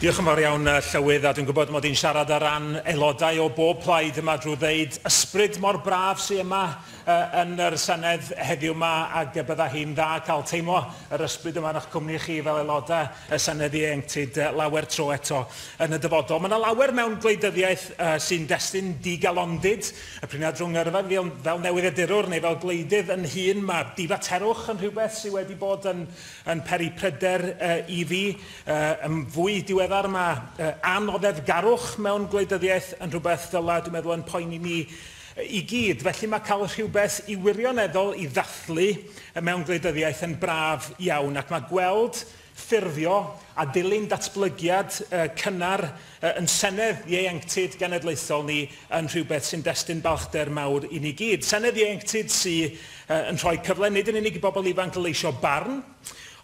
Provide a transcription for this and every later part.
Diolch yn fawr iawn, Llywydd, a dwi'n gwybod mod i'n siarad ar ran aelodau o bob plaid yma drwy ddeud ysbryd mor braf sydd yma yn yr Senedd heddiw yma ac y bydda hi'n dda cael teimlo yr ysbryd yma yn eich cwmni chi fel aelodau y Senedd Ieuenctid lawer tro eto yn y dyfodol. Mae yna lawer mewn gwleidyddiaeth sy'n destun digalondid, y priniad rhwng yrfa fel newyddiadurwr neu fel gwleidydd yn hun, mae difaterwch yn rhywbeth sydd wedi bod yn yn peri pryder i fi. Yn fwy diweddar mae anoddefgarwch mewn gwleidyddiaeth yn rhywbeth ddylai, dwi'n meddwl, ein poeni ni i gyd. Felly mae cael rhywbeth i wirioneddol i ddathlu mewn gwleidyddiaeth yn braf iawn ac mae gweld ffurfio a dilyn datblygiad cynnar Ein Senedd Ieuenctid Genedlaethol ni yn rhywbeth sy'n destun balchder mawr i ni gyd. Senedd Ieuenctid sy yn rhoi cyfle nid yn unig i bobl ifanc leisio barn,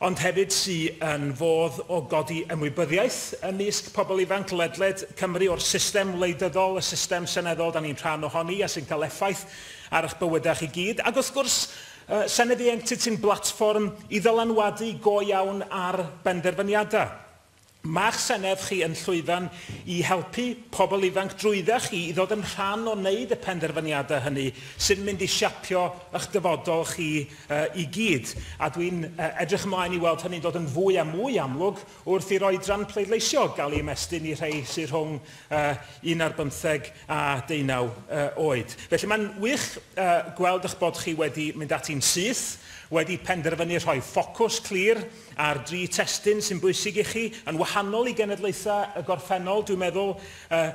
ond hefyd sy yn fodd o godi ymwybyddiaeth ymysg pobl ifanc ledled Cymru o'r system wleidyddol, y system seneddol da ni'n rhan ohoni a sy'n cael effaith ar eich bywydau chi gyd. Ac wrth gwrs, Senedd Ieuenctid sy'n blatfform i ddylanwadu go iawn ar benderfyniadau. Mae'ch senedd chi yn llwyfan i helpu pobl ifanc drwydda chi i ddod yn rhan o wneud y penderfyniadau hynny sy'n mynd i siapio y'ch dyfodol chi i gyd, a dwi'n edrych ymlaen i weld hynny'n dod yn fwy a mwy amlwg wrth i'r oedran pleidleisio gael ei ymestyn i rhei sy' rhwng un ar bymtheg a deunaw oed. Felly mae'n wych gweld y'ch bod chi wedi mynd ati'n syth, wedi penderfynu rhoi ffocws clir, A'r dri testun sy'n bwysig i chi, yn wahanol i genedlaethau y gorffennol, dwi'n meddwl, yy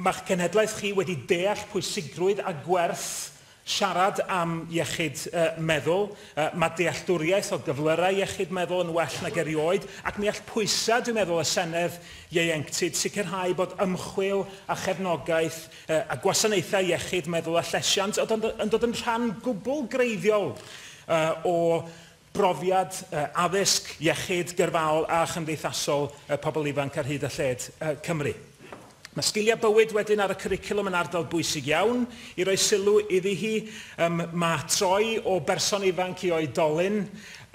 ma'ch cenhedlaeth chi wedi deall pwysigrwydd a gwerth siarad am iechyd yy meddwl, yy mae dealltwriaeth o gyflyrau iechyd meddwl yn well nag erioed, ac mi all pwysau, dwi'n meddwl, y Senedd ieuenctid sicrhau bod ymchwil a chefnogaeth yy a gwasanaethau iechyd meddwl a llesiant yn dod yn rhan gwbl greiddiol yy o brofiad addysg, iechyd, gyrfaol a chymdeithasol pobl ifanc ar hyd a lled Cymru. Mae sgiliau bywyd wedyn ar y cwricwlwm yn ardal bwysig iawn i roi sylw iddi hi. Mae troi o berson ifanc i oedolyn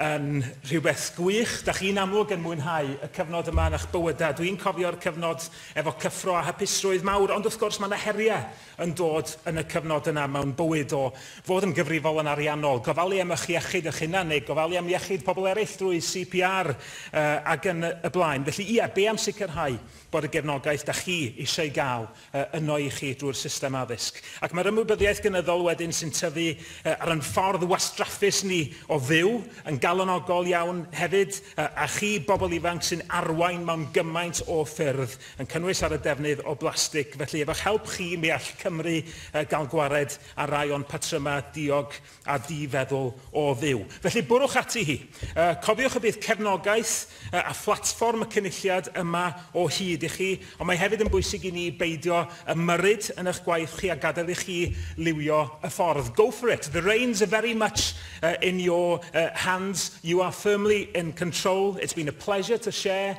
yn rhywbeth gwych. Da chi'n amlwg yn mwynhau y cyfnod yma yn eich bywydau. Dwi'n cofio'r cyfnod efo cyffro a hapusrwydd mawr, ond wrth gwrs mae yna heriau yn dod yn y cyfnod yna mewn bywyd o fod yn gyfrifol yn ariannol, gofalu am ych iechyd eich hunan neu gofalu am iechyd pobl eraill drwy CPR ac yn y blaen. Felly, ie, be am sicrhau bod y gefnogaeth da chi eisiau ei gael yno i chi drwy'r system addysg? Ac mae'r ymwybyddiaeth gynyddol wedyn sy'n tyfu ar ein ffordd wastraffus ni o fyw yn galonogol iawn hefyd, a chi, bobl ifanc, sy'n arwain mewn gymaint o ffyrdd, yn cynnwys ar y defnydd o blastig, felly efo eich help chi mi all Cymru gael gwared ar rai o'n patrymau diog a di-feddwl o fyw. Felly bwrwch ati hi. Cofiwch y bydd cefnogaeth a phlatfform y Cynulliad yma o hyd i chi, ond mae hefyd yn bwysig i ni beidio ymyrryd yn eich gwaith chi a gadael i chi liwio y ffordd. Go for it! The reins are very much in your hands, you are firmly in control, it's been a pleasure to share